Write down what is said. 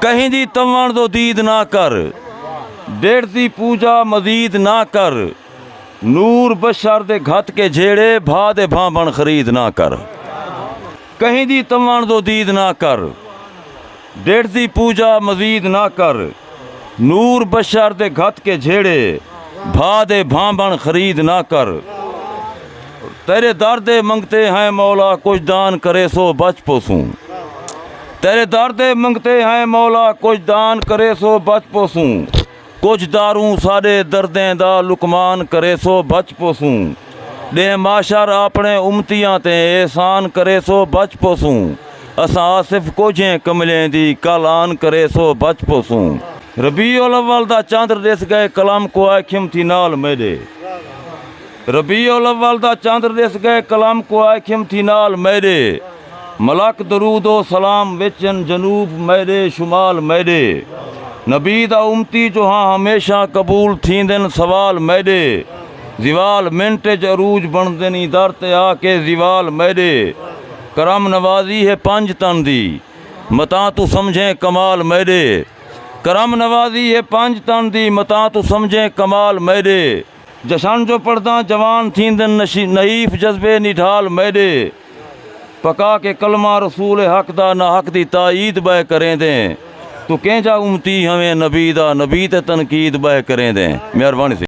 کہیں دی تمن دو دید نہ کر ڈیڑھ دی پوجا مزید نہ کر نور بشر دے گھت کے جھیڑے بھا دے بھانبن خرید نہ کر کہیں دی تمن دو دید نہ کر ڈیڑھ دی پوجا مزید نہ کر نور بشر دے گھت کے جھیڑے بھا دے بھانبھن خرید نہ کر تیرے در دے منگتے ہیں مولا کچھ دان کرے سو بچ پوسوں تیرے در دے منگتے ہیں مولا کچھ دان کرے سو بچ پوسوں کچھ داروں ساڈے دردیں دا لکمان کرے سو بچ پوسوں ݙینہ محشر آپݨے امتیاں تے احسان کریسو بچ پوسوں اساں آصف کوجھیں کملیں دی کل آن کریسو بچ پوسوں۔ ربیع الاول دا چندر ݙس ڳئے قلم کوں آئے کھم تھی نال میݙے ربیع الاول دا چندر ݙس ڳئے قلم کوں آئے کھم تھی نال میݙے۔ ملک درود و سلام وچن جنوب میڈے شمال میڈے نبی دا امتی جو ہاں ہمیشہ قبول تھیندن سوال میڈے زوال منٹ اچ عروج بنڑدن ایں در تے آ کے زوال میڈے کرم نوازی ہے پنج تن دی متاں توں سمجھیں کمال میڈے کرم نوازی ہے پنج تن دی متاں توں سمجھیں کمال میڈے۔ جشن جو پڑھداں جوان تھیندن نشی نحیف جذبے نڈھال میڈے پکا کے کلمہ رسول حق دا نہ حق دی تائید بئے کریندیں تو کینجھا امتی ہویں نبی دا نبی تے تنقید بئے کریندیں مہربانی سی۔